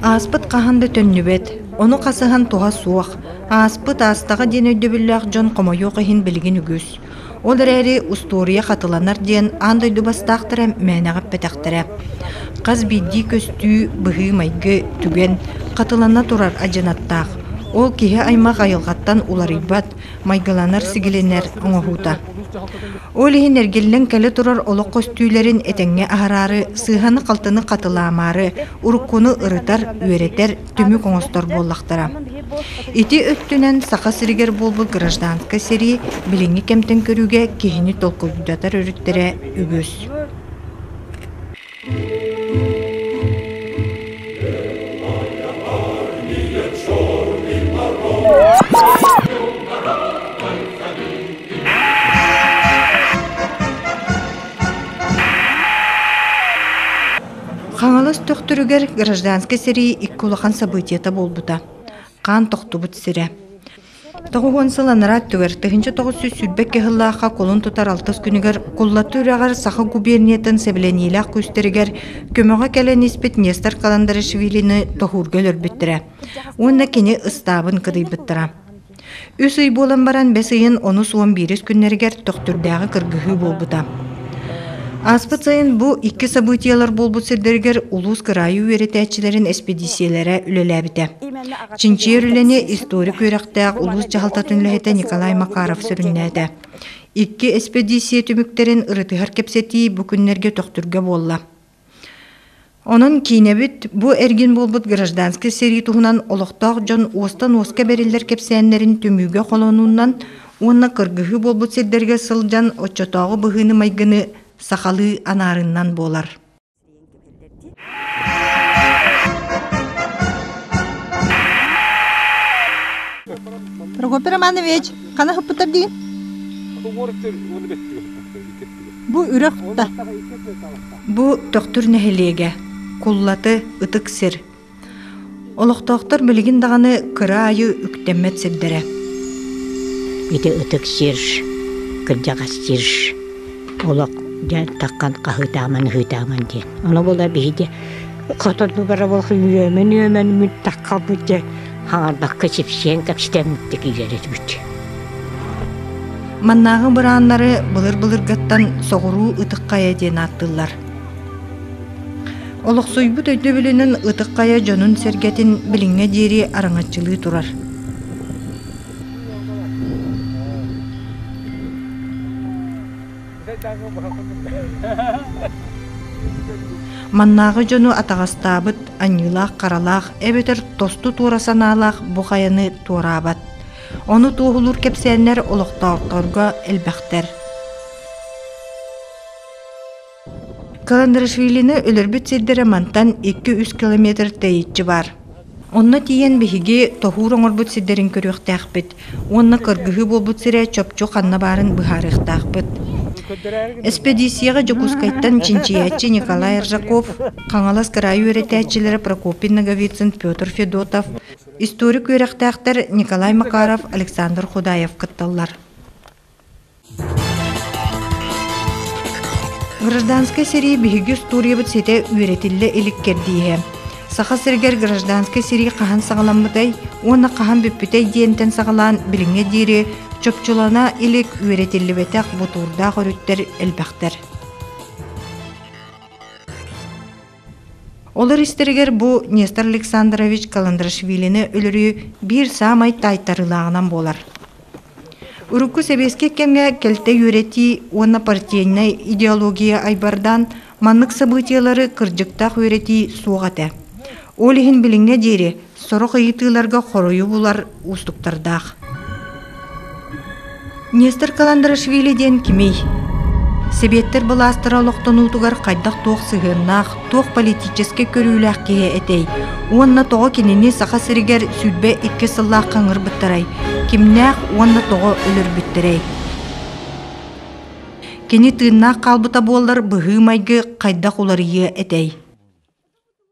Ааспыт хаһан да төннүбэт, ону хасыһан туһа суох. Ааспыт аастаҕа диэн өйдөбүллээх дьон хомойуох иһин билигин үгүс. Ол эрээри устуоруйа хатыланар диэн аан дойду бастаахтара мээнэҕэ эппэтэхтэрэ. Хас биирдии көстүү, быһыы-майгы түгэн хатылана турар адьынаттаах. Ол киһи-аймах айылҕаттан уларыйбат, майгыланар-сигилинэр оҥоһуута. Ол иһин эргиллэн кэлэ турар олох көстүүлэрин этэҥҥэ аһараары, сыыһаны-халтыны хатылаамаары, уруккуну ырытар, үөрэтэр түмүк оҥостор буоллахтара. Ити өттүнэн Саха сиригэр буолбут гражданскай сэрии билиҥҥи кэмтэн көрүүгэ киһини толкуйдатар өрүттэрэ үгүс. Хаҥалас төхтүрүгэр гражданскай сэрии икки улахан событиета буолбута. Хаан тохтубут сирэ. Тоҕуһуон сыл анараа өттүгэр тыһыынча тоҕус сүүс сүүрбэк кыһыллаахха колун тутар алтыс күнүгэр Куллатты үрэҕэр Саха губерниятын сэбилэниилээх күүстэригэр көмөҕө кэлэн испит Нестор Каландарашвилини тоһуурга өлөрбүттэрэ уонна кини ыстаабын кыдыйбыттара. Үс ый буолан баран бэс ыйын онус уон биирис күннэригэр Төхтүрдээҕи кыргыһыы буолбута. Ааспыт сайын бу икки событиелар буолбут сирдэригэр улуус кыраайы үөрэтээччилэрин эспэдииссийэлэрэ үлэлээбитэ. Чинчийэр үлэни историк үөрэхтээх улуус дьаһалтатын үлэһитэ Николай Макаров сүрүннээтэ. Икки эспэдииссийэ түмүктэрин ырытыһар кэпсэтии бу күннэргэ Төхтүргэ буолла. Онон киинэбит бу эргин буолбут гражданскай сэрии туһунан олохтоох дьон уостан-уоска бэриллэр кэпсээннэрин түмүүгэ холонуунан уонна кыргыһыы буолбут сирдэргэ сылдьан оччотооҕу быһыыны-майгыны сахалыы анаарыннан буолар. Прокопий Романович, хана хыппыттар диин? Уорыттыр уону беттиги хыппыттар. Бу үрэх да, бу Төхтүр нэһилиэгэ, куллаты ытык сир. Олохтоохтор билигин даҕаны кыра аайы үктэммэт сирдэрэ. Ити ытык сир, кырдьаҕас сир, олох дьэ таххан хаһыытааман ыһыытааман диэн. Ону була биһиги хотон бара буолах үөмэн үөмэн мүт таххалбыт дьэ хаҥардакка чипсиэн кэпсэтэммиттик иилэрэтибит Маннааҕы бырааннары былыр-былыргаттан соҕуруу ытыкхайа диэн ааттыыллар. Олохсуйбут өйдөбүлүнэн ытыкхайа дьонун-сэргэтин билиҥҥэ диэри араҥаччылыы турар. Маннааҕы дьону атаҕастаабыт аньыылаах-харалаах эбэтэр тосту туора санаалаах бу хайаны туораабат. Ону туоһулуур кэпсээннэр олохтоохторго элбэхтэр. Каландрашвилины өлөрбүт сирдэрэ мантан 2-3 километр тэйиччи бар. Онно тиийэн биһиги тоһуур оҥорбут сирдэрин көрүөхтээхпит уонна кыргыһыы буолбут сирэ чопчу ханна баарын быһаарыахтаахпыт. Эспэдииссийэҕэ Дьокуускайтан чинчийээччи Николай Ржаков, Хаҥалас кыраайы үөрэтээччилэрэ Прокопий Ноговицын Петр Федотов, историк үөрэхтээхтэр Николай Макаров, Александр Худаев кытталлар. Гражданскай сэрии биһиги устуоруйабыт ситэ үөрэтиллэ илик кэрдииһэ. Саха сиригэр гражданскай сэрии хаһан саҕаламмытай уонна хаһан бүппүтэй диэнтэн саҕалаан билиҥҥэ диэри чопчулана илик үөрэтиллибэтэх бутуурдаах өрүттэр элбэхтэр. Олор истэригэр бу Нестор Александрович Каландрашвилини өлөрүү биир саамай таайтарыылааҕынан буолар. Урукку сэбиэскэй кэмҥэ кэлтэй үөрэтии уонна партийнай идеология айбардаан маннык сабыытыйалары кырдьыктаах үөрэтии суох этэ. Ол иһин билиҥҥэ диэри Сорох ыйытыыларга хоруйу булар уустуктардаах. Нестер Каландарашвили диэн кимий? Сэбиэттэр былаастара олохтонуутугар хайдах-туох сыһыаннаах, туох политический көрүүлээх киһи этэй? Уонна тоҕо кинини Саха сиригэр сүлбэ икки сыллаах қаңырбыттарай? Кимнээх уонна тоҕо өлөрбүттэрэй? Кини тыыннаах хаалбыта буоллар быһыы-майгы хайдах уларыйыа этэй?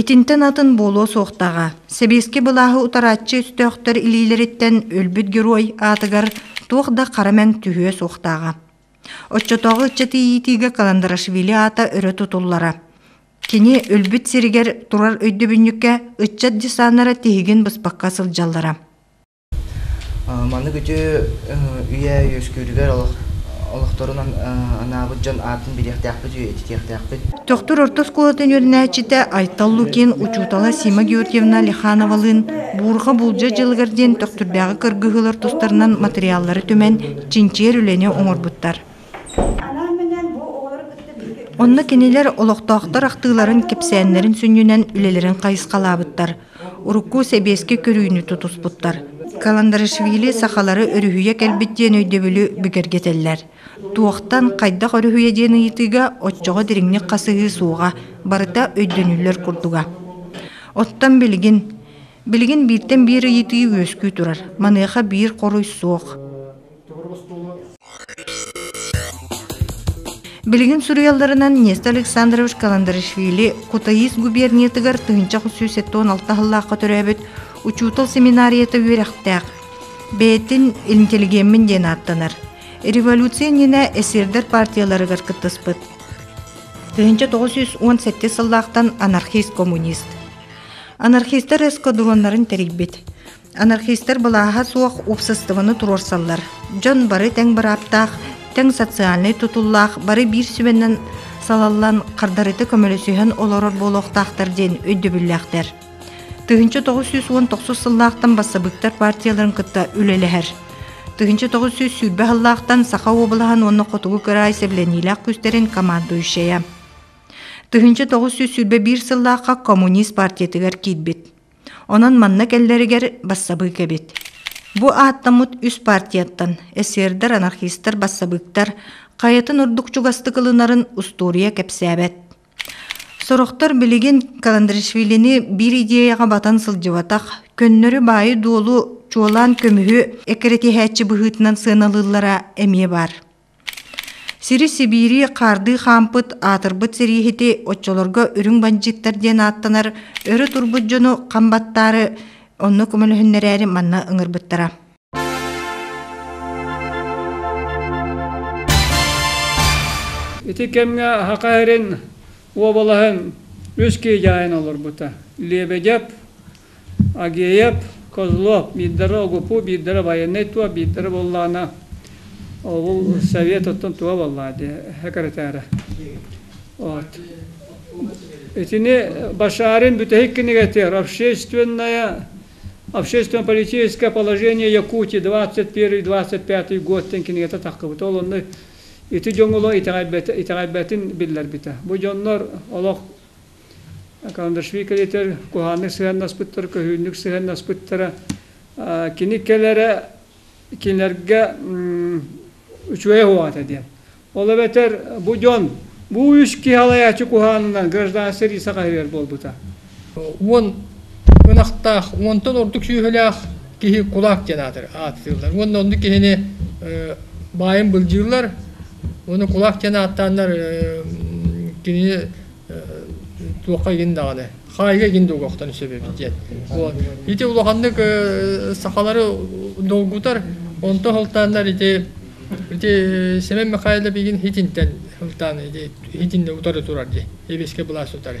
Итинтэн атын буолуо суохтааҕа. Сэбиэскэй былааһы утарааччы өстөөхтөр илиилэриттэн өлбүт герой аатыгар туох да хара мэҥ түһүө суохтааҕа. Оччотооҕу ыччат иитиигэ Каландарашвили аата өрө тутуллара. Кини өлбүт сиригэр турар өйдөбүнньүккэ ыччат десаннара тиһигин быспакка сылдьаллара. Маннык үтүө үйэ үөскүүрүгэр олохторун анаабыт дьон аатын билиэхтээхпит, үйэтитиэхтээхпит. Төхтүр орто оскуолатын үөрэнээччитэ Айтал Лукин, учуутала Сима Георгиевна Лихановалыын Буурҕа буулдьа дьылыгар диэн Төхтүрдээҕи кыргыһыылар тустарынан матырыйааллары түмэн, чинчийэр үлэни оҥорбуттар. Онно кинилэр олохтоохтор ахтыыларын, кэпсээннэрин сүнньүнэн үлэлэрин хайысхалаабыттар, урукку сэбиэскэй көрүүнү тутуспуттар. Каландарашвили сахалары өрүһүйэ кэлбит диэн өйдөбүлү бигэргэтэллэр. Туохтан, хайдах өрүһүйэ диэн ыйытыыга оччоҕо дириҥник хасыһыы суоҕа, барыта өйдөнүллэр курдуга. Оттон билигин, билигин бииртэн биир ыйытыы үөскүү турар, маныаха биир хоруй суох. Билигин суруйалларынан Нестор Александрович Каландарашвили Кутаис губерниятыгар тыһынча сүүс он алта сыллаахха төрөөбүт учуутал семинарията үөрэхтээх. Бэйэтин интеллигеммин диэн ааттанар. Революция нина эсердер партияларыгар кыттыспыт. Тыһынча тоғыз жүз он сәтте сыллаахтан анархист коммунист. Анархистар эскадроннарын терикбит. Анархистар былааһа суох уопсастыбаны туруорсаллар. Дьон бары тэҥ бырааптаах, тэҥ социальнай тутуллаах, бары биир сүбэнэн салаллан хардарыта көмөлөсүһэн олорор буолуохтаахтар диэн өйдөбүллээхтэр. Тыһыынча тоҕус сүүс уон тохсус сыллаахтан бассабыыктар партияларын кытта үлэлэһэр. Тыһыынча тоҕус сүүс сүүрбэ сыллаахтан Саха уобалаһын уонна хотугу кыраай сэбилэниилээх күстэрин командующая. Тыһыынча тоҕус сүүс сүүрбэ биир сыллаахха коммунист партиятыгар киирбит. Онон манна кэллэригэр бассабыык эбит. Бу ааттаммыт үс партияттан эсердэр, анархистар, бассабыыктар хайатын ордук чугастык ылынарын устуоруйа кэпсээбэт. Сорохтор билигин Каландришвилини биир идеяҕа батан сылдьыбатах, көннөрү-баайы-дуолу, чуолаан көмүһү эккирэтиһээччи быһыытынан сыаналыыллара эмиэ баар. Сири Сибиири хаардыы хаампыт аатырбыт сэрииһити оччолорго үрүҥ бандьыыттар диэн ааттанар өрө турбут дьону хам баттаары онно көмөлөһүннэрээри манна ыҥырбыттара Ити кэмҥэ Аха эрин уобалаһын үс киһи дьаайан олорбута. Лебедев Агеев, Козлов, биирдэрэ Огупу, биирдэрэ байанай туо, биирдэрэ буоллаҕына ол совет оттон туга буоллаҕа дии секретаря. Вот. Итини Башарин бүтэһик кинигэтигэр общественное общественно-политическое положение Якутии 21-25 год ден кинигэтэ тахкыбыта. Ол онно ити дьоҥоло итэҕэйбэтин биллэрбитэ. Бу дьоннор олох Каландашвили кэлитер куһааннык сыһыаннаспыттара, көһүүннүк сыһыаннаспыттара. Кини кэлэрэ кинилэргэ үчүгэй уоҕата диэн. Ол эбэтэр бу дьон бу үс киһи алайааччы куһаанынан гражданскай рейсэ хаһыгар буолбута. Уон ынахтаах, уонтан ордук сүөһүлээх киһи кулак диэн аатырар ааттыыллар. Уонна онну киһини баайын былдьыыллар, Уну кулак диэн ааттааннар кинини туохха игин даҕаны хаайга игин дуогохтон сөбөбүт диэн ити улаханнык сахалары долгутар онто хылтааннар ити ити Семен Михайлов игин хитинтен хылтаан ити хитинне утары турар ди Лебедскай былаас утары.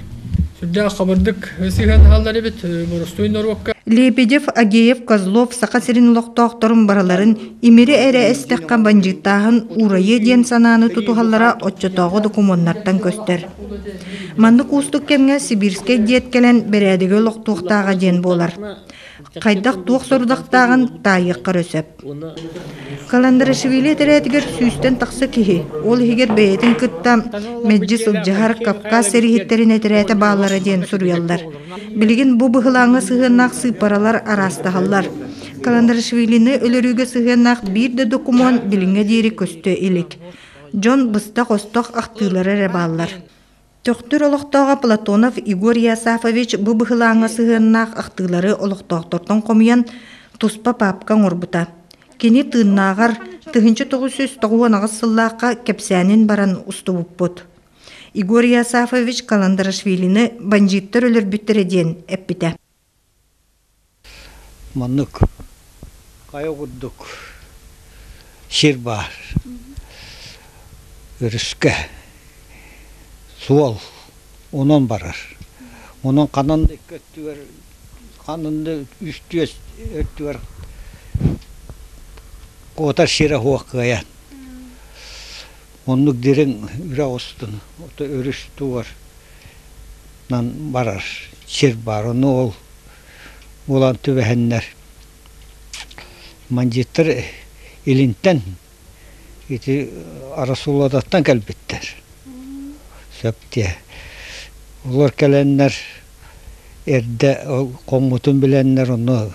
Сүрдээх хабырдык сыһыан аһаллар эбит боростуой норуокка. Лебедев, Агеев, Козлов Саха сирин олохтоохторун барыларын имири эрэ эстэххэ бандьыыттааһын урайы диэн санааны тутуһаллара оччотооҕу докумуоннартан көстөр. Маннык уустук кэмҥэ сибирскэй диэт кэлэн бэрээдэги олохтуохтааҕа диэн буолар. Хайдах-туох сорудахтааҕын таайыахха эрэ сөп. Каландарашвили этэрээтигэр сүүстэн тахса киһи, ол иһигэр бэйэтин кытта мэлдьи сылдьыһар Кавказ сэрииһиттэрин этэрээтэ бааллара диэн суруйаллар. Билигин бу быһылааҥҥа сыһыаннаах сыыппаралар араастаһаллар. Каландарашвилины өлөрүүгэ сыһыаннаах биир да докумуон билиҥҥэ диэри көстө илик. Дьон быстах-остох ахтыылара эрэ бааллар. Төхтүр олохтооҕо Платонов Егор Иосафович бу быһылааҥҥа сыһыаннаах ахтыылары олохтоохтортон хомуйан, туспа паапка оҥорбута. Кини тыыннааҕар тыһыынча тоҕус сүүс тоҕуһунаҕыс сыллаахха кэпсээнин баран устубуппут. Егор Иосафович Каландарашвилины бандьыыттар өлөрбүттэрэ диэн эппитэ Маннык хайа курдук сир баар. Өрүскэ суол онон барар. Онон ханан да икки өттүгэр ханан да үстүөс өттүгэр куотар сирэ суох кыайан Оннук дириҥ үрэх устун өрүс туорынан барар сир баар. Ону ол буолан түбэһэннэр мандьыыттар илинтэн ити Арасулодаттан кэлбиттэр. Сөп диэ. Олор кэлэннэр эрдэ ол хоҥмутун билэннэр онно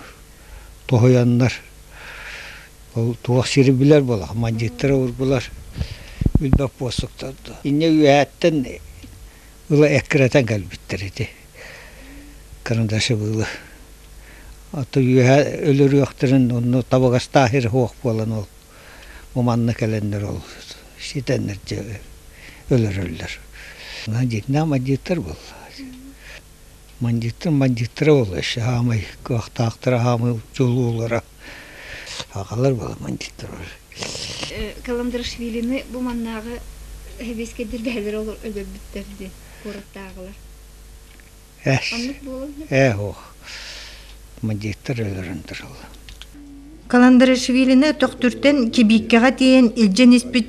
тоһуйаннар ол туох сири билэр буоллах мандьыыттары урбулар билбэт буоссуктарда инньэ үөһээттэн ыла эккирэтэн кэлбиттэр ити карандашыбылы а то үөһэ өлөрүөхтэрин онно табыгастаахыр хуох буолан ол бу манна кэлэннэр ол ситэннэр дьэ өлөрөллөр дьинна мандьыыттар буолла Бандьыыттар бандьыыттара буолла саамай кыахтаахтара саамай дьулуулара аҕалар буолла бандьыыттар Каландарашвилины бу маннааҕы сэбиэскэйдэр бэһэлэрэ өлөрбүттэр дии куораттааҕылар ээ уох бандьыыттар өлөрөн туралла Каландарашвилины төхтүртэн Кибииккэҕэ тиийэн илдьэн испит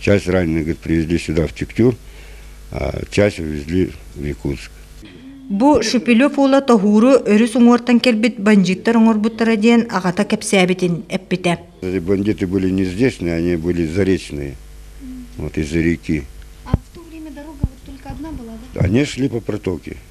Часть раненых привезли сюда, в Тектюр, а часть увезли в Якутск. Бу Шүпүлүк уула тоһууру өрүс уҥуортан кэлбит бандьыыттар оҥорбуттара диэн аҕата кэпсээбитин эппитэ. Бандиты были не здешние, они были заречные, вот из-за реки. А в то время дорога вот только одна была, да? Они шли по протоке.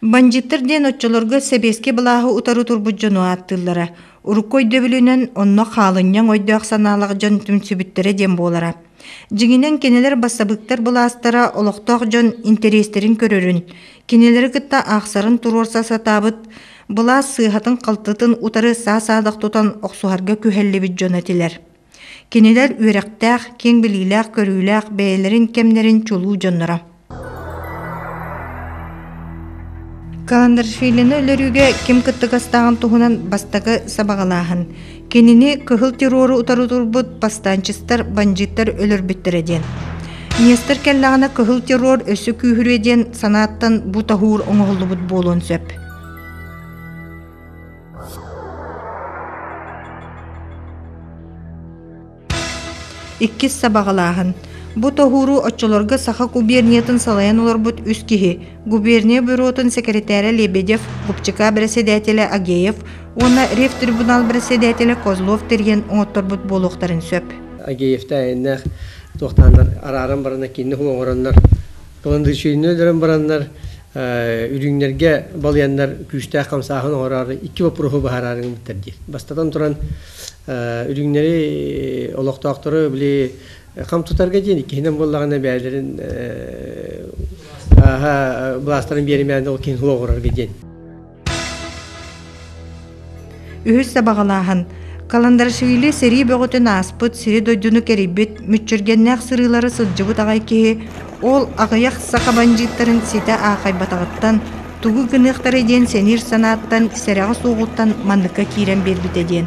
Бандьыттар диэн оччолорго сэбиэскэй былааһы утары турбут дьону ааттыыллара. Урукку өйдөбүлүнэн онно хаалынньаҥ ойдөөх санаалах дьон түмсүбүттэрэ диэн буолара. Дьиҥинэн кинилэр бассабыыктар былаастара олохтоох дьон интэриэстэрин көрөрүн, Кинилэри кытта аахсарын туруорса сатаабыт, былаас сыыһатын-халтытын утары саа-саадах тутан охсуһарга күһэллибит дьон этилэр. Кинилэр үөрэхтээх, киэҥ билиилээх, көрүүлээх бэйэлэрин кэмнэрин чулуу дьонноро. Каландаршвилины өлөрүүгэ ким кыттыгастааҕын туһунан бастакы сабаҕалааһын Кинини кыһыл террору утары турбут бастаанчыстар бандьыыттар өлөрбүттэрэ диэн. Нестер кэллэҕинэ кыһыл террор өссө күүһүрүө диэн санааттан бу таһуур оҥоһуллубут буолуон сөп. Иккис сабаҕалааһын. Бу тоһууру оччолорго Саха губерниятын салайан олорбут үс киһи, губерния бюротун сэкирэтээрэ Лебедев, Губчака бэрэссэдээтэлэ Агеев уонна ревтрибунал бэрэссэдээтэлэ Козлов тэрийэн оҥотторбут буолуохтарын сөп. Агеевтаайыннаах туохтааннар арааран баран кииннэ оҥороннор, пландычуйнуй өлөрөн бараннар, Үрүүннэргэ балыйаннар күүстээх хамсааһын оҥороору икки боппуруоһу быһаарары гыммыттар дии. Бастатан туран, үрүүннэри олохтоохтору били хам тутарга диэн иккиһинэн буоллаҕына бэйэлэрин ааһа былаастарын биэримээнэ ол киһини олоҕурарга диэн. Үһүс сабаҕалааһын Каландарашвили сэрии бөҕөтүн ааспыт сири-дойдуну кэрийбит мүччүргэннээх сырыылары сылдьыбыт аҕай киһи ол аҕыйах саха бандьыыттарын ситэ аахайбатаҕыттан тугу гыныахтарай диэн сэниир санааттан сэрэҕэ суоҕуттан манныкка киирэн биэрбитэ диэн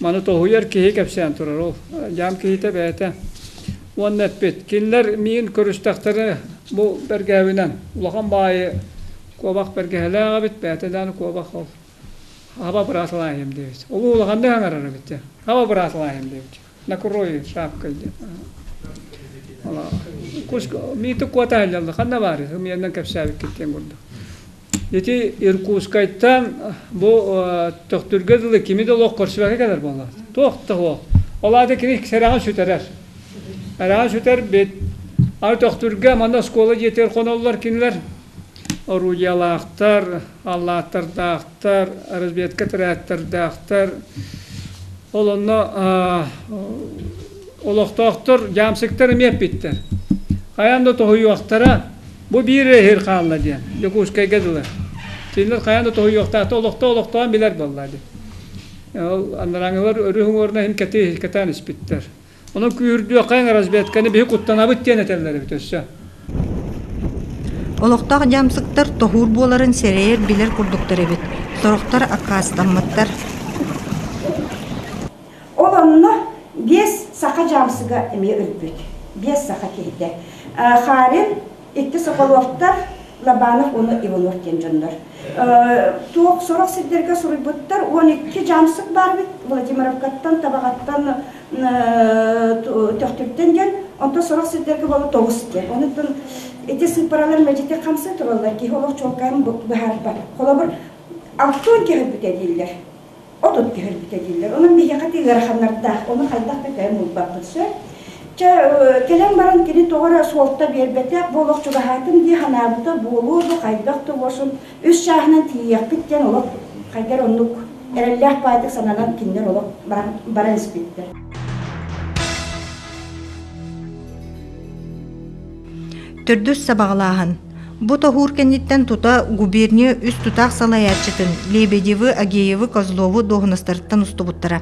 Маны тоһуйар киһи кэпсээн турар ол. Дьаам киһитэ бэйэтэ. Уонна эппит, кинилэр миин көрүстэхтэрэ бу бэргээбинэн улахан баайы куобах бэргэһэлээх эбит, бэйэтэ дааны куобах ол хаба быраатылаайым диэбит. Ол улаханнык аҥарара эбит. Хаба быраатылаайым диэбит. Накрой шапкой диэн. Кус миити куота аллалла ханна баар үһү миэннэн кэпсээбиккит диэн курдук. Ити Иркутскайтан бу төхтүргэ дылы кими да олох көрсүбэккэ кэлэр буолла. Туох да суох. Ол аата кини сэрэҕин сүтэрэр. Эрэҕин сүтэр бит. Аны төхтүргэ манна оскуола дьиэтигэр хоноллор кинилэр орудиялаахтар, аллааттардаахтар, разведка тэрээктэрдаахтар. Ол онно олохтоохтор дьаамсыктар эмиэ эппиттэр. Хайаан да тоһуйуохтара, Бу биир иһир хаалла диэн Дьокуускайга дылы. Кинилэр хайаан да тоһуйуохтаахта олохто олохтоон билэр буолла дии. Ол анараңылар өрү хумуорна иһин кэти кэтаан испиттэр. Ону күүрдүөххээн разведканы биһи куттанабыт диэн этэллэр эбит өссө. Олохтоох дьамсыктар тоһуур буоларын сэрэйэр билэр курдуктар эбит. Сорохтор аккаастаммыттар. Ол онно биэс саха дьаамсыга эмиэ өлбүт. Биэс саха киһитэ. Харин, икки Соколовтар, Лобанов уонна Иванов диэн дьоннор. Туох сорох сирдэргэ суруйбуттар, он икки дьаамсык баарбыт Владимировкаттан, Табаҕаттан, Төхтүртэн диэн, онтон сорох сирдэргэ буола тоҕус диэн. Онуттан ити сыппаралар мэдьити хамсыы тураллар, киһи олох чуолкайын быһаарбат. Холобур, Алтон киһи өлбүтэ дииллэр. отут түһэрбитэ дииллэр. Онон биһиэхэ тиий ыараханнардаах, ону хайдах да кэлэн булбаппыт сөп. Чэ, кэлэн баран кини тоҕо эрэ суолта биэрбэтэх буолуох чугаһаатын дии санаабыта буолуо да хайдах да буолsun үс чааһынан тиийиэхпит диэн олох хайдар оннук эрэллээх баайдык сананан кинилэр олох баран, баран испиттэр. Төрдүс сабаҕалааһын. Бу тоһуур кэнниттэн тута губерния үс тутаах салайааччытын Лебедевы, Агеевы, Козлову дуоһунастарыттан устубуттара.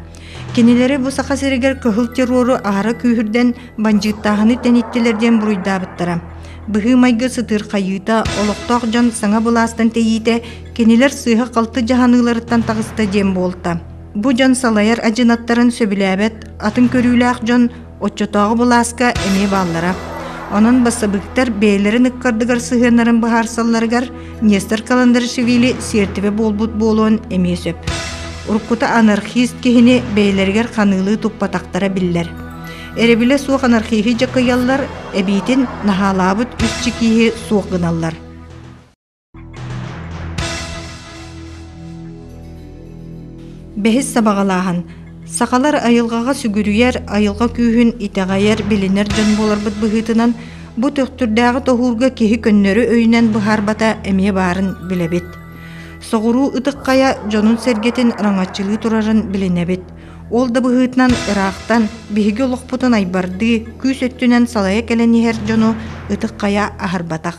Кинилэри бу Саха сиригэр кыһыл террору аһара күүһүрдэн бандьыыттааһыны тэниттилэр диэн буруйдаабыттара. Быһыы-майгы сытыырхайыыта, олохтоох дьон саҥа былаастан тэйиитэ кинилэр сыыһа-халты дьаһаныыларыттан таҕыста диэн буолта. Бу дьон салайар адьынаттарын сөбүлээбэт, атын көрүүлээх дьон Оччотооҕу былааска эмиэ бааллара. Онон бассабыыктар бэйэлэрин ыккардыгар сыһыаннарын быһаарсалларыгар Нестор Каландаришвили сиэртибэ буолбут буолуон эмиэ сөп. Уруккута анархист киһини бэйэлэригэр ханыылыы туппатахтара биллэр. Эребилэ суох анархиһы дьакыйаллар, эбиитин наһаалаабыт үс чикииһи суох гыналлар. Бэһис сабаҕалааһын сахалар айылҕаҕа сүгүрүйэр, айылҕа күүһүн итэҕэйэр, билинэр дьон буоларбыт быһыытынан бу төхтүрдээҕи тоһуурга киһи көннөрү өйүнэн быһаарбата эмиэ баарын билэбит. Соҕуруу ытыкхайа дьонун-сэргэтин раҥаччылыы турарын билинэбит. Ол да быһыытынан ыраахтан биһиги олохпутун айбардыы, күүс өттүнэн салайа кэлэн иһэр дьону ытыкхайа аһарбатах.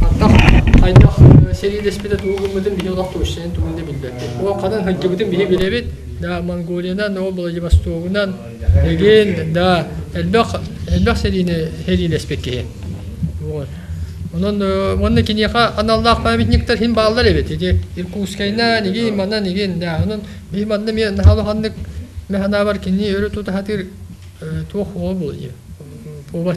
Хантах хайдах сэриилэспитэ тугу гыммытын биһи олох тушчанын тугун да билбэппит. Ол ханан сылдьыбытын биһи билэбит. Да Монголиянан, да Владивостогунан, дэгин, да элбэх элбэх сэриини сэриилэспит киһи. Онон онно киниэхэ аналлаах памятниктар хин бааллар эбит. Ити Иркутскайна нигин манна нигин да онон би манна мен наһалаханнык механабар кини өрө тутатыр туох ол булуйу. Повар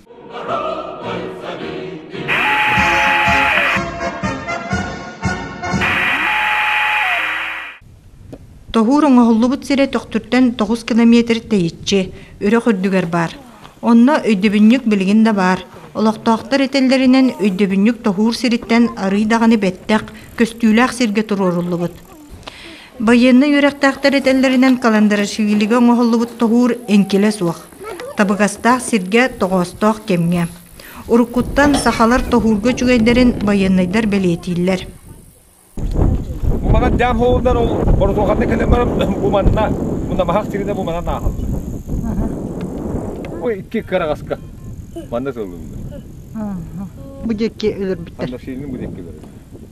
Тоһуур оҥоһуллубут сирэ төхтүртэн тоҕус километр тэйиччи, үрэх үрдүгэр баар. Онно өйдөбүнньүк билигин да баар. Олохтоохтор этэллэринэн, өйдөбүнньүк тоһуур сириттэн арыый даҕаны бэттэх, көстүүлээх сиргэ туруоруллубут. Байыаннай үөрэхтээхтэр этэллэринэн, каландарашвилига оҥоһуллубут тоһуур эҥкилэ суох. Табыгастаах сиргэ, тоҕоостоох кэмҥэ. Уруккуттан сахалар тоһуурга үчүгэйдэрин байыаннайдар бэлиэтииллэр. Бу манан дьаам хоолунан ол боротуоханна кэлэн баран бу манна намаһах сиринэ бу манан ааһаллар. Бу икки кыраҕаска манна сылынна. Бу диэки өлөрбүттэр. Анна Силин бу диэки өлөрөр.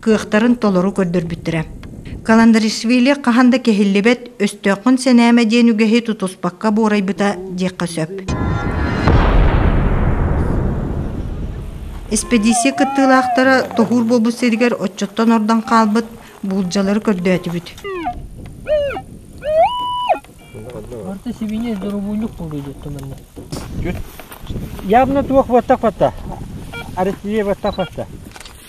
кыахтарын толору көрдөрбүттэрэ. Каландаришвили хаһан да кэһиллибэт өстөөххүн сэнээмэ диэн үгэһи тутуспакка буорайбыта диэххэ сөп. Эспэдииссийэ кыттыылаахтара тоһуур буолбут сиригэр оччоттон ордон хаалбыт буулдьалары көрдөөтүбүт. Орто сибиниэс дорубуйнук буолуйдут туманна. Ябна туох баттах батта. Арестие баттах батта.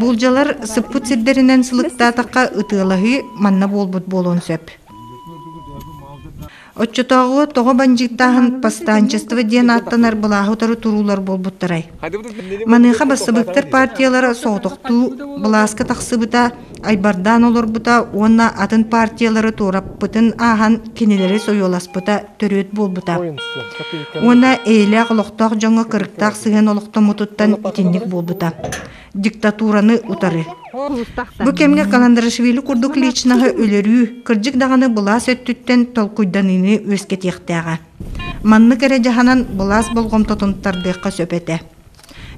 Буулдьалар сыппыт сирдэринэн сылыктаатахха ытыалаһыы манна буолбут буолуон сөп. Оччотооҕу тоҕо бандьыыттааһын повстанчество диэн ааттанар былааһы утары туруулар буолбуттарай? Маныаха бассабыыктар партиялара соҕотохтуу былааска тахсыбыта айбардаан олорбута уонна атын партиялары туораппытын ааһан кинилэри сойуоласпыта төрүөт буолбута уонна эйэлээх олохтоох дьоҥҥо кырыктаах сыһыан олохтоммутуттан итинник буолбута диктатураны утары бу кэмҥэ каландарашвили курдук личноһы өлөрүү кырдьык даҕаны былаас өттүттэн толкуйданыыны үөскэтиэхтээҕэ маннык эрэ дьаһанан былаас болҕомтотун тардыахха сөп этэ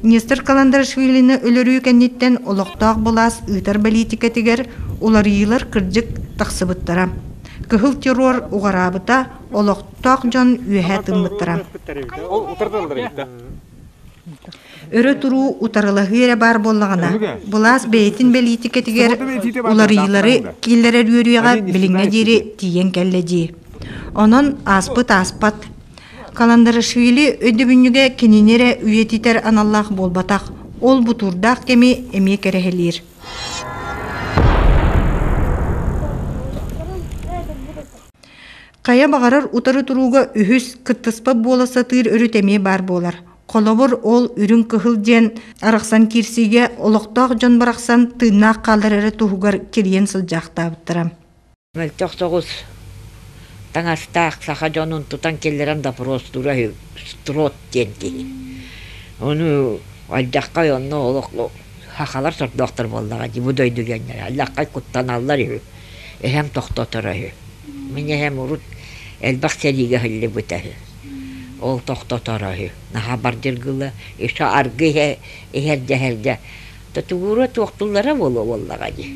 Нестор Каландарашвилины өлөрүү кэнниттэн олохтоох былаас ыытар бэлиитикэтигэр уларыйыылар кырдьык тахсыбыттара, кыһыл террор уҕараабыта олохтоох дьон үөһэ тыммыттара. Өрө туруу утарылаһыы эрэ баар буоллаҕына, былаас бэйэтин бэлиитикэтигэр уларыйыылары киллэрэр үөрүйэҕэ билиҥҥэ диэри тиийэн кэллэ дии. Онон ааспыт ааспат Каландарашвили өйдөбүнньүгэ кинини эрэ үйэтитэр аналлаах буолбатах, ол бутуурдаах кэми эмиэ кэрэһэлиир. Хайа баҕарар утары турууга үһүс кыттыспат буола сатыыр өрүт эмиэ баар буолар. Холобур, ол Үрүҥ Кыһыл диэн арахсан киирсиигэ олохтоох дьон барахсан тыыннаах хаалар эрэ туһугар кирийэн сылдьаахтаабыттара. Мөлтөх соҕус таҥастаах саха дьонун тутан киллэрэн допростуура үһү. Строд диэн киһи. Ону алдьаххай онно олох хахалар сордоохтор буоллаҕа дии. Бу дойду диэннэр алдьаххай куттаналлар үһү. Эһэм тохтоторо үһү. Мин эһэм урут элбэх сэриигэ ыһыллыбыта үһү. Ол тохтоторо үһү. Наһаа бардыргыла, еще аргы иһэ иһэрдэ-иһэрдэ Тутугура туохтуллара буолуо буоллаҕа дии.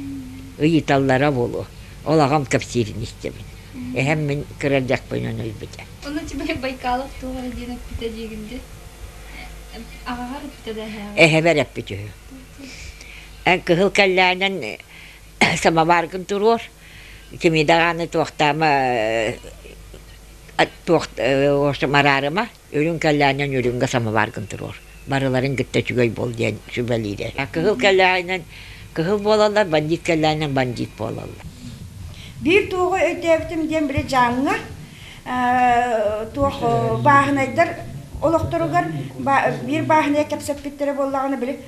Ыйыталлара буолуо. Ол аҕам кэпсиирин истэбин. Эһэм мин кыра дьахпынын өлбүтэ. Ону Чыбырык Байкалов туох эрэ диэн эппитэ диигин дии. Аҕаҕар эппитэ да эһээҕэр. Эһэбэр эппит үһү. Эн кыһыл кэллээнэн самоваргын туруор. Кими даҕаны туохтаама туох Мараарыма Үрүҥ кэлээнинэн үрүҥҥэ самоваргын туруор. Барыларын кытта үчүгэй буол диэн сүбэлиирэ. Кыһыл кэлээнинэн кыһыл буолаллар, бандьыыт кэлээнинэн бандьыыт буолаллар. Биир туоҕу өйдөөбүтүм диэн били Дьааҥҥа туох бааһынайдар олохторугар биир бааһынайа кэпсэппиттэрэ буоллаҕына били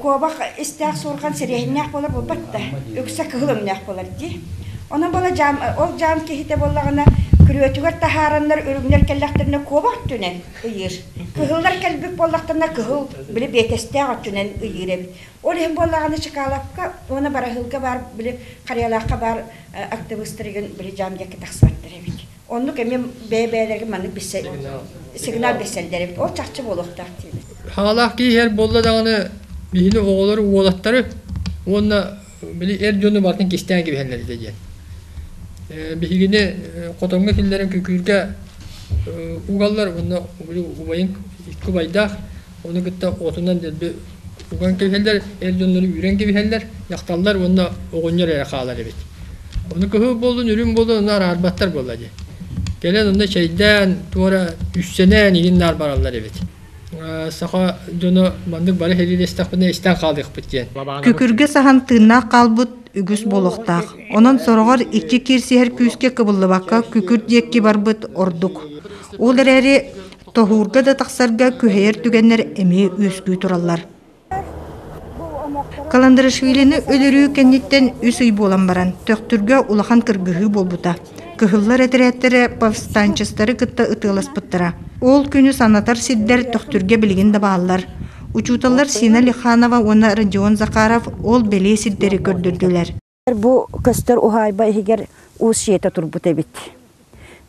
куобах истээх суорҕан сириэһиннээх буолар буолбат да үксэ кыһыл өҥнөөх буолар дии онон бала дьаам ол дьаам киһитэ буоллаҕына күрүөтүгэр таһаараннар үрүҥнэр кэллэхтэринэ куобах өттүнэн ыйыыр кыһыллар кэлбит буоллахтарына кыһыл били биэтэстээх өттүнэн ыйыыр эбит ол иһин буоллаҕына Чекаловка уонна Бараһыылга баар били Харыйалаахха баар актыбыстарыгын били дьаам диэкки тахсыбаттар эбит Оннук эмиэ бэйэ-бэйэлэрин маннык билсэр сигнал билсэллэрим ол чахчы буолуохтаах диэбит. Саалаах киһи эр буолла даҕаны биһини оҕолору уолаттары уонна били эр дьону барытын кистээн кэбиһэллэритэ диэн. Биһигини хотоҥҥо киллэрэн күкүүргэ угаллар уонна убайын икки убайдаах Ону кытта отунан уган кэбиһэллэр, эр дьоннору үүрэн кэбиһэллэр, дьахталлар уонна оҕонньор эрэ хаалар эбит. Ону кыһыл буоллун, үрүҥ буоллун, ону араарбаттар буолла дии. Кэлэн онно чэйдээн, туора үссэнээн иһин наар бараллар эбит. Саха дьоно маннык бары сэлиилэстэхпинэ истэн хаалыахпыт диэн. Күкүргэ саһан тыыннаах хаалбыт үгүс буолуохтаах. Онон сороҕор иччи киирсиһэр күүскэ кыбыллыбакка күкүр диэкки барбыт ордук. Ол эрээри Тоһуурга да тахсарга күһэйэр түгэннэр эмиэ үөскүү тураллар. Каландарашвилини өлөрүү кэнниттэн үс ый буолан баран, Төхтүргэ улахан кыргыһыы буолбута. Кыһыллар этэрээттэрэ повстанчестары кытта ытыаласпыттара. Ол күнү санатар сирдэр Төхтүргэ билигин да бааллар. Учууталлар Сина Лиханова уонна Родион Захаров ол бэлиэ сирдэри көрдөрдүлэр. Бу көстөр уһаайба иһигэр уус дьиэтэ турбут эбит.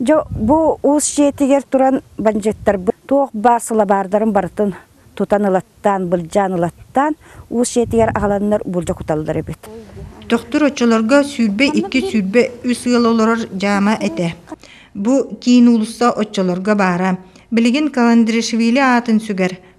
Дьэ бу уус дьиэтигэр туран бандьыыттарбыт туох баар сылабаардарын барытын тутан ылаттаан, былдьаан ылаттаан уус дьиэтигэр аҕаланнар буулдьа куталлар эбит. Тохтор оччолорго сүүрбэ икки сүүрбэ үс ыал олорор дьаама этэ. Бу киин уулусса оччолорго баара. Билигин Каландришвили аатын сүгэр,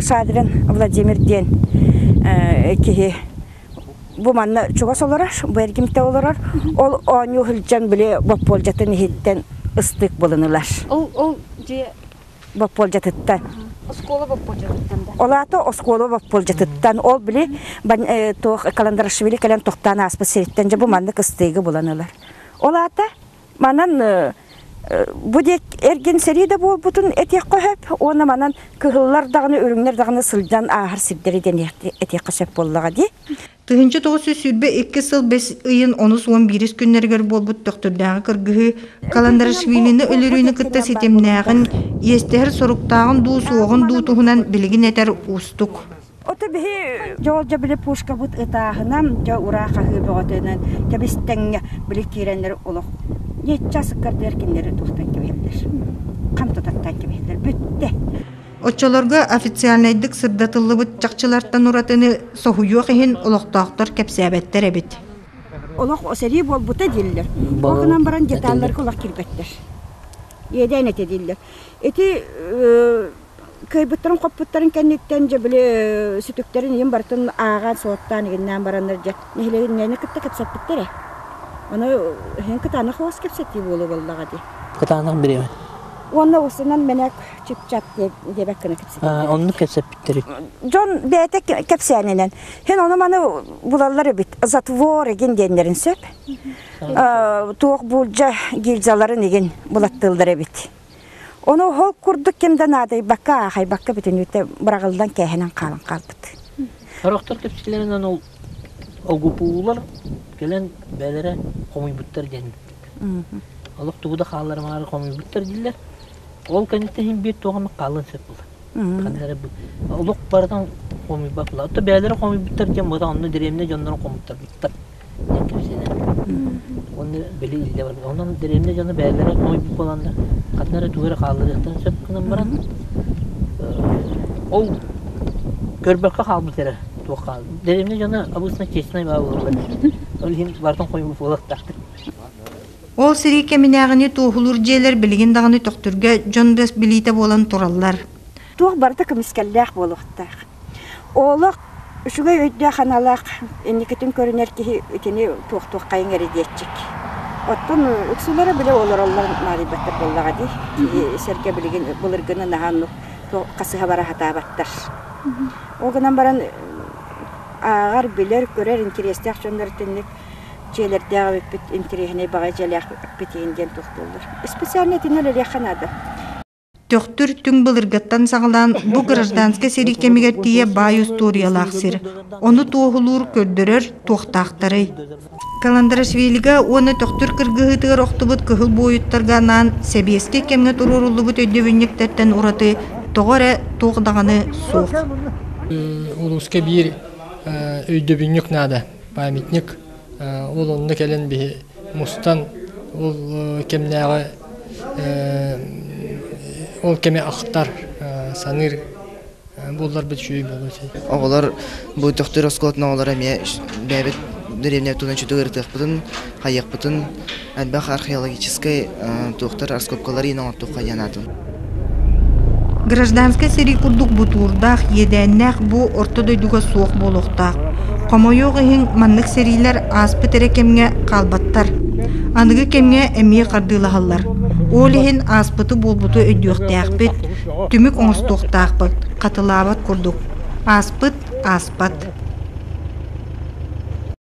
Садрин Владимир диэн киһи бу манна чугас олорор, бу эргимтэ олорор. Ол оонньуу сылдьан били боппуолдьатын иһиттэн ыстык булунулар. Ол ол дьиэ боппуолдьатыттан. Оскуола боппуолдьатыттан да. Ол аата оскуола боппуолдьатыттан. Ол били туох Каландарашвили кэлэн тохтоон ааспыт сириттэн дьэ бу маннык ыстыыгы булан ылар. Ол аата Манан бу диэк эргин сэрии да буолбутун этиэххэ сөп уонна манан кыһыллар даҕаны үрүҥнэр даҕаны сылдьан ааһар сирдэри этиэххэ сөп буоллаҕа дии. Тыһыынча тоҕус сүүс сүүрбэ икки сыл бэс ыйын онус уон биирис күннэригэр буолбут Төхтүрдээҕи кыргыһыы Каландарашвилины өлөрүүнү кытта ситимнээҕин, иэстэһэр соруктааҕын дуу суоҕун дуу туһунан билигин этэр уустук. Ото биһи дьоолдьо били пушкабыт ытааһынан, дьэ ураа хаһыы бөҕөтөнөн кэбистэҥҥэ били киирэннэр олох ньычча сыккардыар кинилэри туһутан кэбиһэллэр. Хам тутаттан кэбиһэллэр бүттэ. Оччолорго официальнайдык сырдатыллыбыт чахчылартан уратыны соһуйуох иһин олохтоохтор кэпсээбэттэр эбит. Олох сэрии буолбута дииллэр. Ол гынан баран деталларга олох кирбэттэр. Иэдээн этэ дииллэр. Ити кыайбыттарын-хоппуттарын кэнниттэн дьэ били сүтүктэрин ийэм барытын ааҕан суоттаан игиннээн бараннар дьэ нэһилиэнньэни кытта кэпсэппиттэрэ аны иһин кытаанах хос кэпсэтии буолуо буоллаҕа дии кытаанах бириэмэ уонна устунан мэнэк чып-чап диэбэк гына кэпсэппиттэрэ оннук кэпсэппиттэр дьон бэйэтэ кэпсээнинэн һин ону маны булаллар эбит затвор игин диэннэрин сөп туох буулдьа гильзаларын игин булаттыыллар эбит Ону ол курдук ким да наадайбакка аахайбакка бүтүн үүтэ быраҕылдан кээһэнэн хаалан хаалбыт. Сорохтор түпсүлэринэн ол огупуулар кэлэн бэлэрэ хомуйбуттар диэн олох тугу да хаалларымаары хомуйбуттар дииллэр ол кэнниттэн биир туох эмэ хаалан сөп була ханна эрэ олох барытын хомуйбат була отто бээлэрэ хомуйбуттар диэн бата онно дэриэбинэ дьоннорун хомуттарбыттар диэн кэпсэнэ уонна били илдьэ барбыт онон дэриэбинэ дьоно бэйэлэрэ хомойбут буоланнар ханна эрэ тугу эрэ хаалларыахтарын сөп гынан баран ол көрбөккө хаалбыт эрэ туох хаал дэриэбинэ дьоно обычно честная баба буолла ол иһин бартын хомойбут буолуохтаахтар ол сэрии кэминээҕини туоһулуур дьиэлэр билигин даҕаны төхтүргэ дьон бас билиитэ буолан тураллар туох барыта көмүскэллээх буолуохтаах Олох үчүгэй өйдөөх-аналаах инникитин көрүнэр киһи итини туохтуоххайыҥ эрэ диэччик. Оттон ыксыылара били олороллор наадыйбаттар буоллаҕа дии. Киһи сэргэ билигин былыргыны наһаа оннук хасыһа бара сатаабаттар. Ол гынан баран ааҕар, билэр, көрөр интэриэстээх дьоннор итинник дьиэлэрдээх эбиппит интэриэһинэй баҕайы дьиэлээхпит иһин диэн туохтууллар. Специально итиннэ үлэлиэххэ наада. Төхтүр түҥ былыргыттан саҕалаан бу гражданскай сэрии кэмигэр тиийэ баай устуоруйалаах сир. Ону туоһулуур, көрдөрөр туохтаахтарый? Каландарашвилига уонна Төхтүр кыргыһыытыгар охтубут кыһыл буойуттарга анаан сэбиэскэй кэмҥэ туруоруллубут өйдөбүнньүктэртэн ураты тоҕо эрэ туох даҕаны суох. Улууска биир өйдөбүнньүк наада. Памятник Ол онно кэлэн биһи мустан ол кэмнээҕи ол кэми ахтар, саныыр буолларбыт үчүгэй буолуо этэ. Оҕолор бу төхтүр оскуолатын оҕолоро эмиэ бэйэбит деревня тутан үчүгэй ырытыахпытын, хайыахпытын Элбэх археологическай туохтар раскопкаларын оҥортуохха диэн аатын Гражданскай сэрии курдук бутуурдаах, иэдээннээх бу орто дойдуга суох буолуохтаах. Хомойуох иһин, маннык сэриилэр ааспыт эрэ кэмҥэ хаалбаттар. Аныгы кэмҥэ эмиэ хардыылаһаллар. Ол иһин ааспыты-буолбуту өйдүөхтээхпит, түмүк оҥостуохтаахпыт, хатылаабат курдук. Ааспыт ааспат.